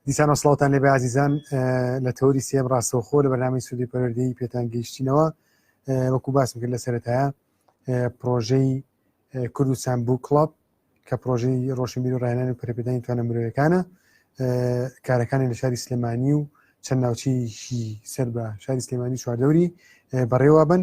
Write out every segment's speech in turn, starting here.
دیسان وسڵاوتان لێ بەازیزان لە تەوری سێم ڕاستەوخۆ لە بەنامی سوودی پەروەردەی پێتان گەیشتینەوە وەکو باسم کرد لە سەرەتایە پرۆژەی کوردستان بوو کڵب کە پرۆژەی ڕۆشن بیر و ڕایانانی و پرەپێدانی توانە مرۆیەکانە کارەکانی لە شاری سلێمانی و چەند ناوچەیەکی سەر بە شاری سلێمانی چواردەوری بەڕێوە بن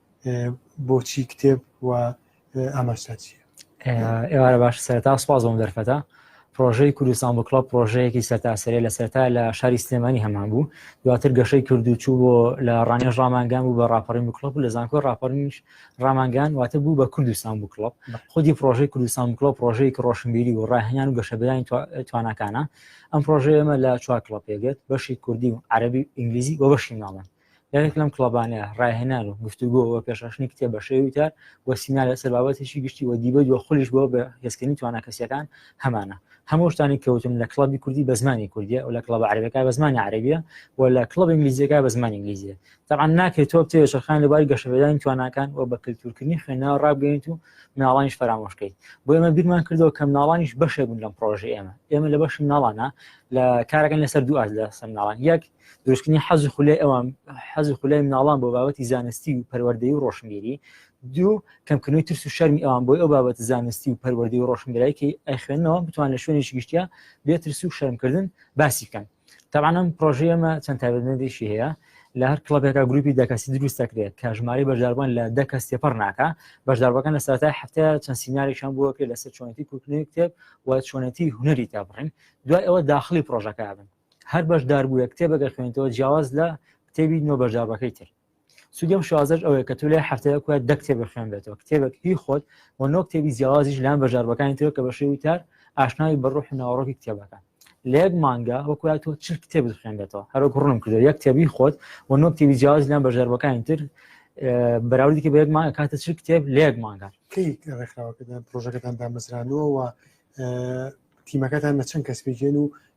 بۆچی کتێب و ئاماچە چیە ئێوارە باش سەرتا سپاس بۆم دەرفەتە پرۆژەی کوردستان بۆ کڵۆپ پرۆژەیەکی سەرتاسەرێ لە سەرتا لە شاری سلێمانی هەمان بوو دواتر گەشەی کردو چوو بۆ لە ڕانێژ ڕامانگان بوو بە ڕاپەڕین بکڵۆپ لە زانکۆ ڕاپەرنیش ڕامانگان واتە بوو بە کوردستان بوو کڵۆپ خودی پرۆژەی کوردستان کڵۆپ پرۆژەیەکی ڕۆشنبیری و ڕاهێنان و گەشەبیانی توانەکانە ئەم پرۆژەیەمە لە چوار کڵۆپ پێگرێت بەشی کوردی و عەربی ئینگلیزی بۆ بەشی ماڵە یەکێک لەم کڵەبانەیە ڕاهێنان و گفتوگۆ و پێشڕشنی کتێ بە شێوی وتار و سینا لەسەر بابەتێکی گشتی وە دیبەت وە خولیش بۆ بە هێزکردنی توانا کەسیەکان هەمانە هەموو شتانی کەوتن لە کڵبی کوردی بە زمانی کوردیە و لە کڵبە عربەکە بە زمانی عربیە و لە کڵب ئینگلیزیەکە بە زمانی ئینگلیزیە تەعاان ناکرێت تۆ بتێ شەرخان لەباری گەشەپێدانی تواناکان و بە کللتورکردنی خوێنەوە ڕابگەیت و مناڵانیش فەرامۆشکەیت بۆ ئێمە بیرمان کردەوە کە مناڵانیش بەشێک بوون لەم پرۆژە ئێمە ئێمە لە بەشی مناڵانە لە کارەکەن لەسەر دوو ئاز لە سەر مناڵان یەک دروستکردنی حەزی خولای ئەوان حەزی خولای مناڵان بۆ بابەتی زانستی و پەروەردەی و ڕۆشنگیری دوو کەمکردنەوەی ترس و شەرمی ئەوان بۆی ئەو بابەت زانستی و پەروەردەی و ڕۆشنگرایکی ئەخوێنەوە بتوان لە شوێنی گشتیا بێت ترس و شەرمکردن باسی بکەن تاوانم پرۆژەیەمە چەند تابێنەدیشی هەیە لە هەر کڵبێکا گروپی دەکەسی دروست دەکرێت کە ژماری بەشداربووان لە دە کەس تێپەر ناکە بەشداربەکان لە ساتای هەفتە چەند سینناریشان بووە کرێت لەسەر چۆنەتی کوردنی کتێب و چۆنەتی هوەری تابڕین دوای ئەوە داخلی پرۆژەکە بن هەر بەشداربوویە کتێبە گەر خوێنیتەوە جیاواز لە کتێبی نۆ بەشداربەکەی تر سودی ئەم شازەش ئەوەیە کە تو لای هەفتەیە کوە دە کتێبە خوێنبێتەوە کتێبێک هی خۆت و نۆ کتێبی جیاوازیش لان بەشداربەکانی تر کە بە شێوی تار ئاشناوی بە ڕوح و ناوەڕۆکی کتێبەکە لە یەک مانگە وەکویا تۆ چ کتێب خوێنبێتەوە هەرۆک ڕوونم کردو یەک کتێبی خۆت و نۆ کتێبی جیاواز لان بەشداربەکانی تر بەراوردی کە بە یەک مانگە کاتە چ کتێب لە یەک مانگە کەی ڕێکخراوەکەدان پرۆژەکەتان دامەزرانوە و تیمەکەتان لە چەند کەس پێگەن و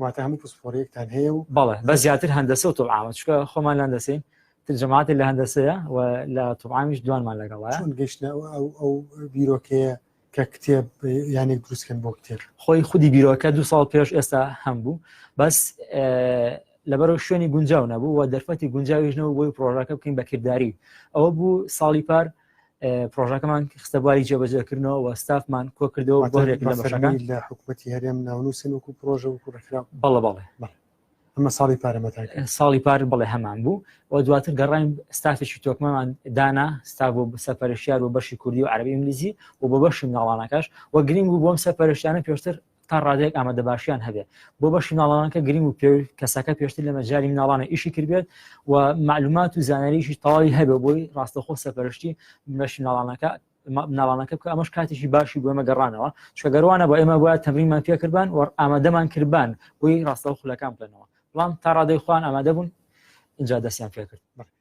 واتە هەموو پسپۆرێکتان هەیە و بەڵێ بە زیاتر هەندەسە و تۆعاوە چکە خۆمان لاندەسین ترجەماتی لە هەندەسەیە و لە تۆعامیش دوانمان لەگەڵە چون گەشتە ئەو بیرۆکەیە کە کتێب یانێک دروستکەن بۆ کتێب خۆی خودی بیرۆکە دو ساڵ پێش ئێستا هەم بوو بەس لەبەرەوە شوێنی گونجاو نەبوو و دەرفەتی گونجاویش نەوە بۆی پرۆژەکە بکەین بەکردداری ئەوە بوو ساڵی پار پرۆژەکەمان خستە بواری جێبەجێکردنەوە و ستافمان کۆ کردەوە بۆ لە حکوومەتتی هەرێم ناونووسن وکو پرۆژە وکو ڕێکرا بەڵە بەڵێ ئەمە ساڵی پارەمەتا ساڵی پار بڵێ هەمان بوو و دواتر گەڕین ستافێکی تۆکمەمان دانا ستا بۆ سەپەرشیار و بەشی کوردی و عربی ئینگلیزی و بۆ بەشی مناڵانەکەش و گرنگ بوو بۆم سەپەرشتیانە پێشتر تا ڕادەیەک ئامادەباشیان هەبێت بۆ بەشی مناڵانان کە گرنگ و پێ کەسەکە پێشتر لە مەجای مناڵانە ئیشی کردبێت و معلومات و زانانیشی تەواوی هەبێ بۆی ڕاستەخۆ سەپەرشتی بەشی مناڵانەکە مناڵانەکە بکە ئەمەش کاتێکی باشی بۆ ئمە گەڕانەوە چگەروانە بۆ ئێمە وایە تەمریمان پێکردبان و ئامادەمان کردبان بۆی ڕاستەوە خولەکان بکەنەوە بەڵام تا ڕادەی خوان ئامادە بوون اینجا دەستیان پێکرد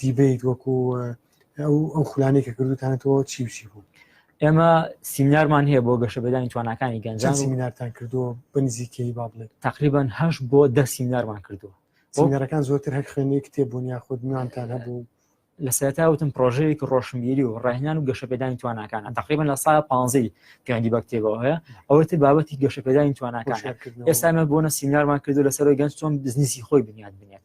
دیبیت وەکو ئەو ئەو خولانەی کە کردوتانەتەوە چی بچی بوو ئێمە سیمینارمان هەیە بۆ گەشە بەدانی توانەکانی گەنجان سیمینارتان کردو بنزیکەی با بڵێت تقریبان هەش بۆ دە سیمینارمان کردووە سیمینارەکان زۆرتر هەر خوێنی کتێبوون یا خود نوانتان هەبوو لە سەرتاوتم پرۆژەیەکی ڕۆشنبیری و ڕێنان و گەشەپێدانی توانەکان تقریبان لە سا پانزی پێیاندی بەکتێبەوە هەیە ئەوەتر بابەتی گەشەپێدانی توانەکان ئێستا ئەمە بۆنە سیمینارمان کردو لەسەر گەنج چۆن بزنسی خۆی بنیاد بنێت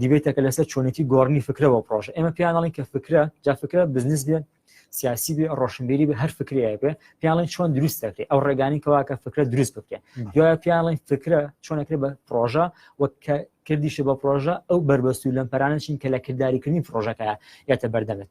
دیبێتەکە لەسەر چۆنێتی گۆڕنی فکرەوە پرۆژە ئێمە پیانڵین کە فکرە جا فکرە بزنس بێت سیاسی بێ ڕۆشنبیری بە هەر فکرێ بێ پیاڵین چۆن دروست دەکرێت ئەو ڕێگانی کەواکە فکرە دروست بکرێت دوای پیاڵین فکرە چۆنەکرێت بە پرۆژە وەک کردیشە بە پرۆژە ئەو بەربەست و لەم پەرانە چین کە لە کردداریکردنی پرۆژەکە یاتە بەردەمێت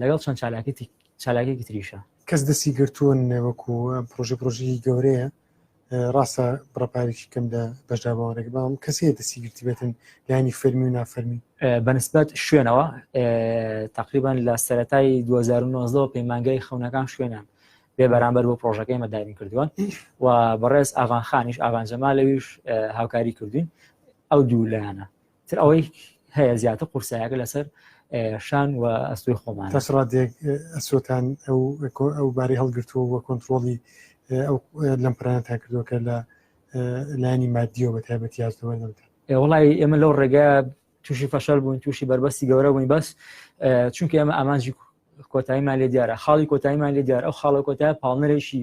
لەگەڵ چەند چالاکێتی چالاکێکی تریشە کەس دەستی گرتوون وەکو پرۆژی پرۆژی گەورەیە ڕاستە بڕپارێکی کەم لە بەشدا باوەڕێک بام کەسێ دەستی گرتی بێتن لانی فەرمی و نافەرمی بەنسبەت شوێنەوە تقریبان لە سەتای 2009 پەیمانگای خەونەکان شوێنان بێ بەرامبەر بۆ پرۆژەکەی مەداین کردووە و بەڕێز ئاغانخانیش ئاغانجەما لەویش هاوکاری کردوین ئەو دوو لایەنە تر ئەوەی هەیە زیاتر قورسایەکە لەسەر شان و ئەستوی خۆمان تەسڕاتێک ئەسۆتان ئەو ئەو باری هەڵگرتووە وە کۆنتترۆڵی ئەو لەم پرانە تا کردوەکە لە لانی مادیەوە بە تایبەتی یاستەوە نەوتە وڵی ئێمە لەو ڕێگە تووشی فەشەل بوون تووشی بەربەستی گەورە بووین بەس چونکە ئێمە ئامانجی کۆتاییمان لێ دیارە خاڵی کۆتاییمان لێ دیار ئەو خاڵە کۆتای پاڵنەرێکی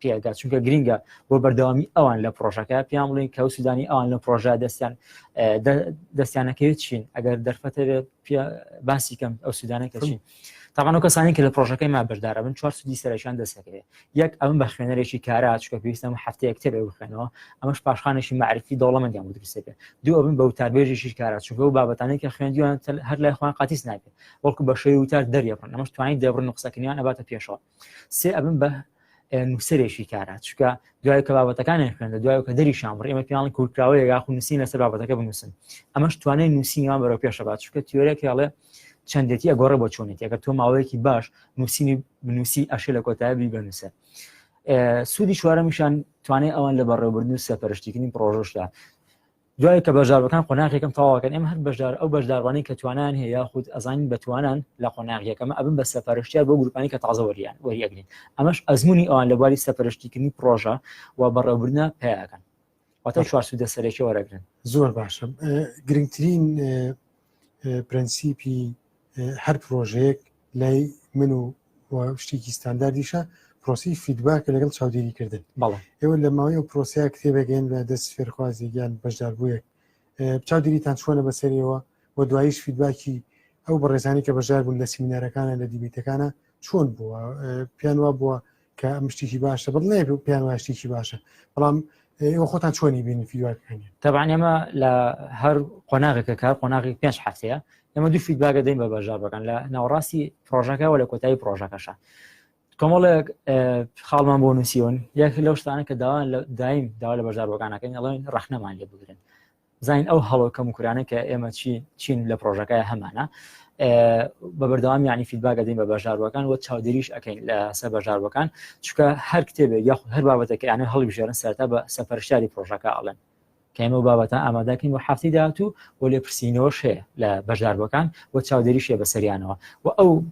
پێگات چونکە گرنگە بۆ بەردەوامی ئەوان لە پرۆژەکە پێیان بڵین کە سوودانی ئەوان لە پرۆژە دەستیان دەستیانەکەوێت چین ئەگەر دەرفەتەوێت باسی کەم ئەو سوودانە کەچین تاوان و کەسانی کە لە پرۆژەکەی ما بەردارە بن چوار سودی سەرشان دەستەکەێت یەک ئەم بە خوێنەرێکی کارا چکە پێویستم هەفتەیە کتێبێ بخێنەوە ئەمەش پاشخانێکی معرفی دەوڵەمەندیان بودرسێتێ دوو ئەبن بە وتاربێژێکی کارا چونکە و بابەتانی کە خوێندیان هەر لای خۆیان قاتیس نابێت وەکو بەشەی وتار دەریێڕن ئەمەش توانین دەبرن قسەکردیان ئەباتە پێشەوە سێ ئەبم بە نووسەرێکی کارا چکە دوای کە بابەتەکانیان خوێندە دوای کە دەری شامڕ ئێمە پیاڵی کورتراوەیە یاخو نووسین لەسەر بابەتەکە بنووسن ئەمەش توانای نووسینیان بەرەو پێشەبات چکە تیۆرێک هێڵێ چەندێتی ئەگۆڕە بۆ چۆنێتی ئەگەر تۆ ماوەیەکی باش نووسینی بنووسی ئەشێ لە کۆتایبی بنووسە سوودی چوارەمیشان توانێت ئەوان لە بەڕێوەبردن و سەپەرشتیکردنی پرۆژشدا دوای کە بەشداربەکان قۆناغ یەکەم تەواوەکەن ئێمە هەر بەشدار ئەو بەشداربانەی کە توانایان هەیە یاخود ئەزانین بە توانان لە قۆناغ یەکەمە ئەبن بە سەپەرشتیار بۆ گروپانی کە تازە وەریان وەری ئەگرین ئەمەش ئەزمونی ئەوان لە بواری سەپەرشتیکردنی پڕۆژە و بەڕێوبردنە پیاکەن واتە چوار سوودە سەرەکی وەرەگرن زۆر باشە گرنگترین پرەنسیپی هەر پرۆژەیەک لای من و شتێکی ستانداردیشە پرۆسی فیدباکە لەگەڵ چاودێریکردن بەڵێ ئێوە لە ماوەی و پرۆسیا کتێبێکگەن لە دەست فێرخوازی گیان بەشداربوویەک چاودێریتان چۆنە بەسەرەوە و دوایش فیدباکی ئەو بەڕێزانی کە بەژار بوون لە سیمینارەکانە لە دیبیتەکانە چۆن بووە پێیان وا بووە کە ئەم شتێکی باشە بڵ نێ پێیان وای شتێکی باشە بەڵام ئێوە خۆتان چۆنی بینی فیدواکانی تەبان ئێمە لە هەر قۆناغێکە کار قۆناغی پێنج هەفتەیە ئێمە دوو فیدباگە دەین بە بەژابەکان لە ناوەڕاستی پرۆژەکەەوە لە کۆتایی پرۆژەکەشە کۆمەڵێک خاڵمان بۆ نووسیۆن یەک لەو شتانە کە داوان لە دایم داوا لە بەژاربەکانەکەین ئەڵێن ڕخنەمان لێ بگرن زین ئەو هەڵۆ کەم کورانە کە ئێمە چی چین لە پرۆژەکە هەمانە بە بەردەوام ینی فیدباگە دەین بە بەژاروەکان وە چاودێریش ئەەکەین لە سەر بەژاروەکان چکە هەر کتێبێک یاخود هەر بابەتەکە یانە هەڵبژێرن سەرتا بە سەپەرشاری پرۆژەکە ئاڵێن کەمە بابەتە ئامادەکەین و هەفتی داهاتوو و لێ پرسیینەوەش هەیە لە بەژاربەکان و چاودێریشە بەسەریانەوە و ئەو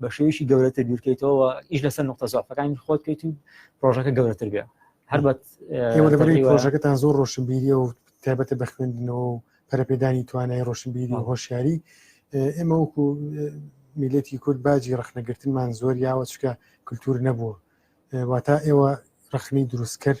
بە شێویشی گەورەتر بیرکەیتەوە و ئیش لەسەر نقطە زۆفەکانی خۆت بکەیت و پرۆژەکە گەورەتر بێ هەربەت پرۆژەکەتان زۆر ڕۆشنبیری و تایبەتە بە خوێندنەوە و پەرپێدانی توانای ڕۆشنبیری و هۆشیاری ئێمە وەکو میلەتی کورد باجی ڕخنەگرتنمان زۆر یاوە چکە کللتور نەبووە واتا ئێوە ڕخنی دروستکرد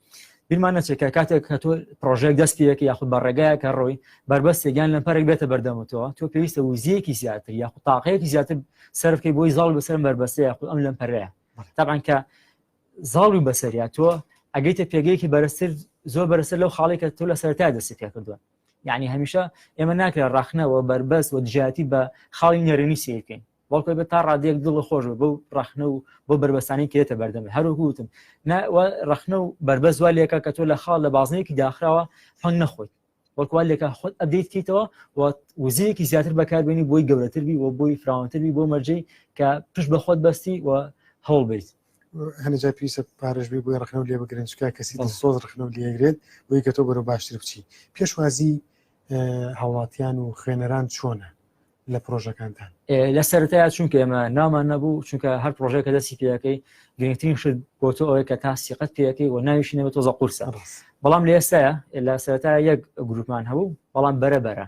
بیرمان نەچێت کە کاتێک کە تۆ پرۆژێک دەست پێەکە یاخود بە ڕێگایە کە ڕۆی بەربەستێکیان لە پەرێک بێتە بەردەمەوە تۆ پێویستە وزیەکی زیاتر یاخود تاقەیەکی زیاتر سەرفکەی بۆی زاڵ بەسەر بەربەستە یاخود ئەم لەم پەرەیە تاعاان کە زاڵی بەسەریا تۆ ئەگەیتە پێگەیەکی بەرەستر زۆر بەرەسەر لەو خاڵێکە تۆ لە سەرتا دەستی پێ کردووە یعنی هەمیشە ئێمە ناکرێت ڕاخنەوە بەربەست و دژاتی بە خاڵی نەرێنی سیرکەین بەڵکۆی بە تا ڕادێک دڵە خۆش بە بەو ڕخنە و بۆ بەربەسانی کرێتە بەردەم هەروگوتم ڕخنە و بربەس وا لێکە کە تۆ لە خاڵ لە بازنەیەکی داخراوە فەنگ نەخۆیت وەکوال لێکە خۆت ئەدەیت کەیتەوە وزیرێکی زیاتر بەکاربیێنی بۆی گەورەتر بی و بۆی فراوانتربی بۆ مەرجەی کە پشت بە خۆت بەستی و هەوڵ بیت هەنجا پێویستە پارێژبی بۆی ڕخنە و لێ بگرنجکە کەسی سۆز ڕخنە و لێگرێت بۆی کە تۆ بەرەو باشتر بچی پێشوازی هاوڵاتیان و خوێنەران چۆنە لە پرۆژەکانتان لە سەرەتایە چونکە ئێمە نامان نەبوو چونکە هەر پرۆژەیە کە دەستی پێەکەی گرنگترین شت بۆ تۆ ئەوەیە کە تا سیقەت پێەکەی و ناویشی نەبێت تۆزە قورسە بەڵام لە ئێستاە لە سەرتا یەک گروپمان هەبوو بەڵام بەرە بەرە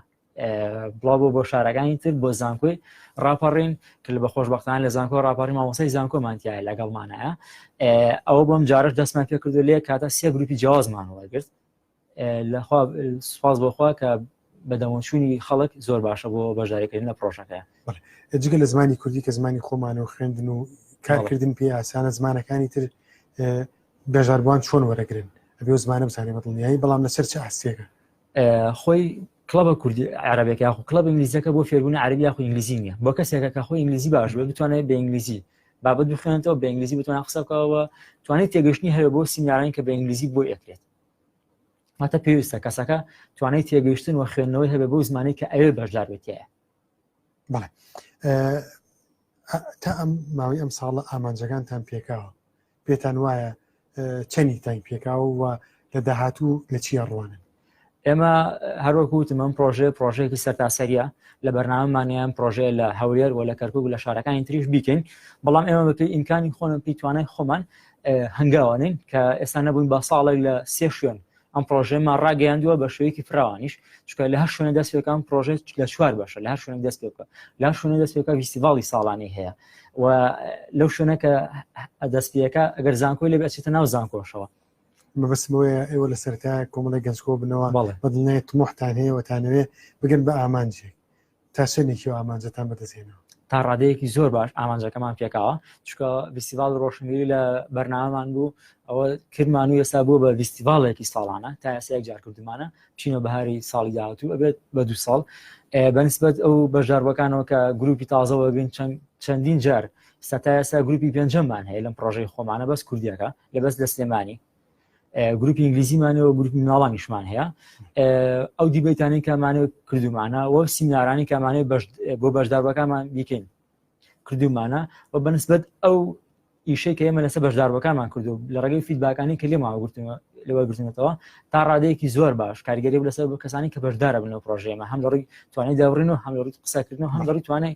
بڵاو بۆ بۆ شارەکانی تر بۆ زانکۆی راپەڕین کە لە بەخۆشببختان لە زانکۆ راپەڕی مامۆسای زانکۆمانتیایە لەگەڵمانایە ئەوە بۆم جارش دەستمان پێکردو لێ کاتە سێ گروپی جیازمان وەرگرت سوپاس بۆخوا کە بەدەمەچوونی خەڵک زۆر باشە بۆ بەژارێکردن لە پرۆژەکە جگە لە زمانی کوردی کە زمانی خۆمانەوە خوێندن و کارکردن پێ ئاسانە زمانەکانی تر بەژاربووان چۆن وەرەگرن ئەبێ زمانە بزانێ بە دڵنیایی بەڵام لەسەر چ ئاستێکە خۆی کلبە کوردی عربێک یاخو کلب ئینگلیزەکە بۆ فێربوون عربی یاخو ئینگلیزی نیە بۆ کەسێکە کە خۆی ئینگلیزی باش بێ بتوانێت بە ئینگلیزی بابەت بخوێنێتەوە بە ئینگلیزی بتوانە قسەکەەوە توانێت تێگەشتنی هەیە بۆ سینناارین کە بە ئینگلیزی بۆ ئەکرێت واتە پێویستە کەسەکە توانای تێگەیشتن و خوێندنەوەی هەبێ بەو زمانی کە ئەوێ بەشدار بێتەیە بەڵێ تا ئەم ماوەی ئەم ساڵە ئامانجەکانتان پێکاوە پێتان وایە چەندی تاین پێکاوە و لە داهاتوو لە چیە ڕوانن ئێمە هەروەکوتم ئەم پرۆژێ پرۆژێکی سەرتاسەریە لە بەرنامەمانیان پرۆژێ لە هەولێر و لە کەرکک لە شارەکانی تریش بیکەین بەڵام ئێمە بەپی ئیمکانی خۆن پیتوانای خۆمان هەنگاوانین کە ئێستا نەبووین با ساڵێک لە سێ شوێن ئەم پرۆژێمان ڕاگەیاندووە بە شوەیەکی فراوانیش چکە لە هەر شوێنە دەست پێکان پرۆژێت لە چوار بەشە لە هەر شوێن دەست پێکە لا شوێنە دەست پێکە ویسیڤاڵی ساڵانی هەیە و لەو شوێنە کە دەست پێەکە ئەگەر زانکۆی لە بەچێتە ناو زانکۆشەوە مەبەست بۆیە ئێوە لە سەرتا کۆمەڵی گەنجکۆ بنەوە بەدڵنێت تمۆحتان هەیەوەتانەوێ بگەن بە ئامانجێک تا چەند نێکیەوە ئامانجەتان بەدەستێنەوە تا ڕادەیەکی زۆر باش ئامانجەکەمان پێکاوە چکە ویستیڤال ڕۆشنگری لە بەرنامان بوو ئەوە کردمان و ئێستا بوو بە ویستیڤالێکی ساڵانە تا ئەسەیەک جار کردمانە چینە بەهاری ساڵی داهاتوو ئەبێت بە دو ساڵ بەنسبەت ئەو بەژاربەکانەوە کە گروپی تازەوەگرین چەند چەندین جار ستا ئێستا گروپی پێنجەممان هەیە لەم پرۆژەی خۆمانە بەس کوردیەکە لە بەس لە سلێمانی گروپی ئینگلیزیمانەوە گروپ مناڵانیشمان هەیە ئەو دیبەیتانی کامانە کردومانە وە سیمینارانی کامانێ بۆ بەشداربەکانمان بیکەین کردومانە و بەنسبت ئەو ئیشەی کە ئێمە لەسە بەشداربەکانمان کردو لە ڕێگەی فیدباکانی کە لێماوە گرتنەوە لەوە گرتنەوە تا ڕادەیەکی زۆر باش کارگەری لەسەر کەسانی کە بەشدارە بنەوە پرۆژێمە هەم لەڕی توانای داڕین و هەم لەڕی قسەکردن و هەم لەڕی توانای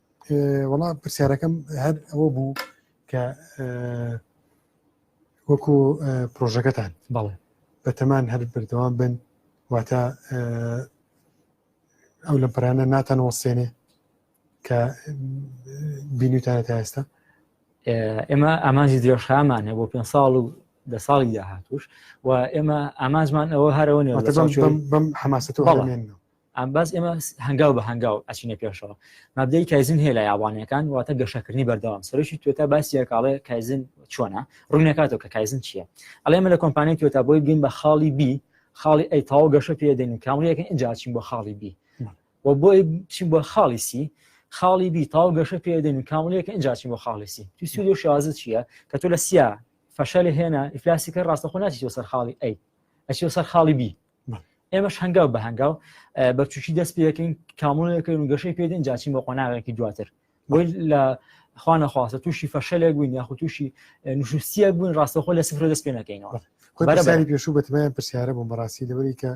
وەڵا پرسیارەکەم هەر ئەوە بوو کە وەکو پرۆژەکەتان بەڵێ بەتەمان هەر بردەوام بن واتە ئەو لە پرانە ناتان وەسێنێ کە بینیتانە تا ئێستا ئێمە ئامانجی درێژخامانە بۆ پێ ساڵ و دە ساڵی داهاتوش و ئێمە ئامانجمان ئەوە هەرەوە بەم حماست ئەمبەس ئێمە هەنگاو بە هەنگاو ئەچینە پێشەوە مادەی کایزن هەیە لە یابانەکان واتە گەشەکردنی بەردەوام سەرۆکی توێتا باسی یەکاڵێ کایزن چۆنە ڕوونەکاتەوە کە کایزن چییە ئەڵێ من لە کۆمپانیای توێتا بۆی بگەین بە خاڵی بی خاڵی ئەی تاو گەشە پێدەین و کامریەکە ئەجاچین بۆ خاڵی بی و بۆی چین بۆ خاڵی سی خاڵی بی تاو گەشە پێدەین و کامریەکە ئەجاچین بۆ خاڵی سی تو سوود و شازە چییە کە تۆ لە سیا فەشەلی هێنا ئیفلاسی کە ڕاستەخۆ ناچیەوە سەر خاڵی ئەی ئەچی سەر خاڵی بی ئێمەش هەنگاو بە هەنگاو بەچوکی دەست پێەکەین کامونەکەین و گەشەی پێدەین جاچین بۆ قۆناغێکی دواتر بۆی لە خوانە خواستە تووشی فەشەلێک بووین یاخو تووشی نوشوسیە بووین ڕاستەخۆ لە سفرە دەست پێ نەکەینەوە بەرەباری پێشوو بەتمایان پرسیارە بۆم بەڕاستی لەوەری کە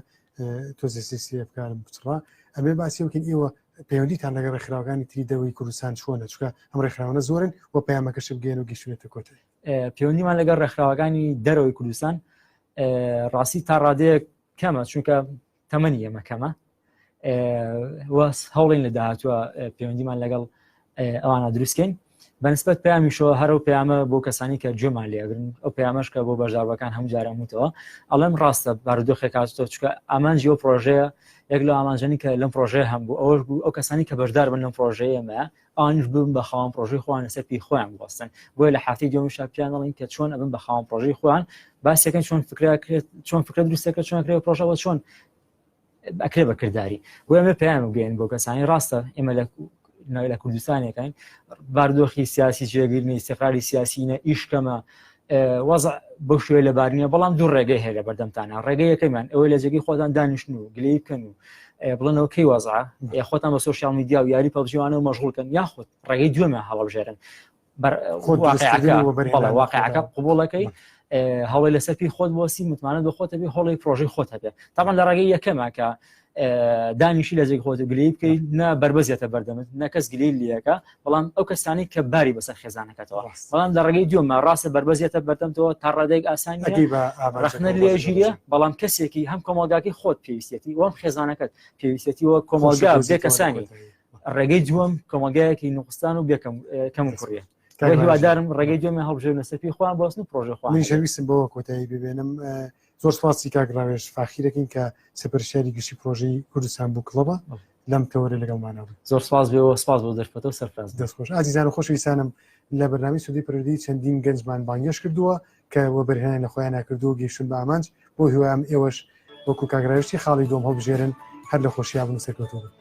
تۆزی سیسیە بکارم بچڕا ئەمێ باسی وکن ئێوە پەیوەندیتان لەگە ڕێکخراوەکانی تری دەوری کوردستان چۆنە چکە ئەم ڕێکخراوانە زۆرن و پەیامەکەش بگەێن و گەشتێتە کۆتایی پەیوەندیمان لەگەڵ ڕێکخراوەکانی دەرەوەی کوردستان ڕاستی تا ڕادەیەک کەمە چونکە تەمەنی ئێمە کەمە هەوڵین لە داهاتوە پەیوەندیمان لەگەڵ ئەوانە دروستکەین بەنسبت پامیشەوە هەرو پامە بۆ کەسانی کە جۆمان لێگرن ئەو پامەشکە بۆ بەژاوەکان هەم جارەموتەوە ئەڵم ڕاستە بارودۆخێک کاتۆ چکە ئامانجی ئەو پرۆژەیە یەک لە ئامانجانی کە لەم پرۆژەیە هەم بوو ئەوەش بوو ئەو کەسانی کە بەشدار بن لەم پرۆژەیەمە ئەوانیش ببن بە خاوەن پرۆژەی خۆیان لەسەر پێی خۆیان بوەستن بۆیە لە حافتی دومیشا پیان دەڵین کە چۆن ئەبن بە خاوەن پرۆژەی خۆیان باسەکەن چۆن فکرکرێت چۆن فکرە دروستەکە چۆن کرێ پرۆژەوە چۆن ئەکرێ بە کردداری بۆ ئەمە پێیان بگەین بۆ کەسانی ڕاستە ئێمە لە لە کوردستانەکەین باردۆخی سیاسی جێگرنی سەقاری سیاسینە ئیشکەمە وەز بەو شوێ لە بارنیە بەڵام دوو ڕێگەی هەیە لە بەردەمتانە ڕێگەیەکەمان ئەوە لە جێگەی خۆتان دانیشتن و گلی بکەن و بڵنەوە کەی وەزا خۆتان بە سوسیال میدیا و یاری پەبجیوانە و مەژغولکەن یاخود ڕێگەی دوێمە هەڵبژێرن واقعەکە قوبڵەکەی هەڵی لەسەر پێی خۆت بۆسی متمانە بە خۆتەبی هەڵی پرۆژی خۆت هەبێت تامان لە ڕێگەی یەکەمە کە دانیشی لە جێک خۆت و گلی بکەیت نە بربەزیێتە بەردەمت نەکەس گلی لیەکە بەڵام ئەو کەسانی کە باری بەسەر خێزانەکەتەوە بەڵام لە ڕێگەی دومە ڕاستە بربەزیێتە بەردەمتەوە تا ڕادێک ئاسان ڕخنە لێ ژیرە بەڵام کەسێکی هەم کۆمەلگاکی خۆت پێویستێتی وەم خێزانەکەت پێویستێتی وە کۆمەلگا بێ کەسانی ڕێگەی دووەم کۆمەلگایەکی نوخستان و بێکەم کەم کوڕە هیوادارم ڕێگەی دوێمە هەڵبژێ نەسەپی خۆیان بۆستن پرۆژە خۆ منشەویستم بۆ کۆتایی ببێنم زۆر سپاسی کاک ڕاوێژ فاخیرەکەین کە سەپەرشیاری گشتی پرۆژەی کوردستان بوو کڵەبە لەم تەوەرە لەگەڵمانەوە زۆر سپاس بێەوە سپاس بۆ دەرفەتە و سەرفراز دەستخۆش ئازیزان و خۆشویستانم لە بەرنامی سودی پرردی چەندین گەنجمان بانگێش کردووە کە وەبەرهێنان لە خۆیان ناکردو گەیشتن بە ئامانج بۆ هیوام ئێوەش وەکو کاگرایشتی خاڵی دۆم هەڵبژێرن هەر لە خۆشییا بن و سەرکەوتوو بن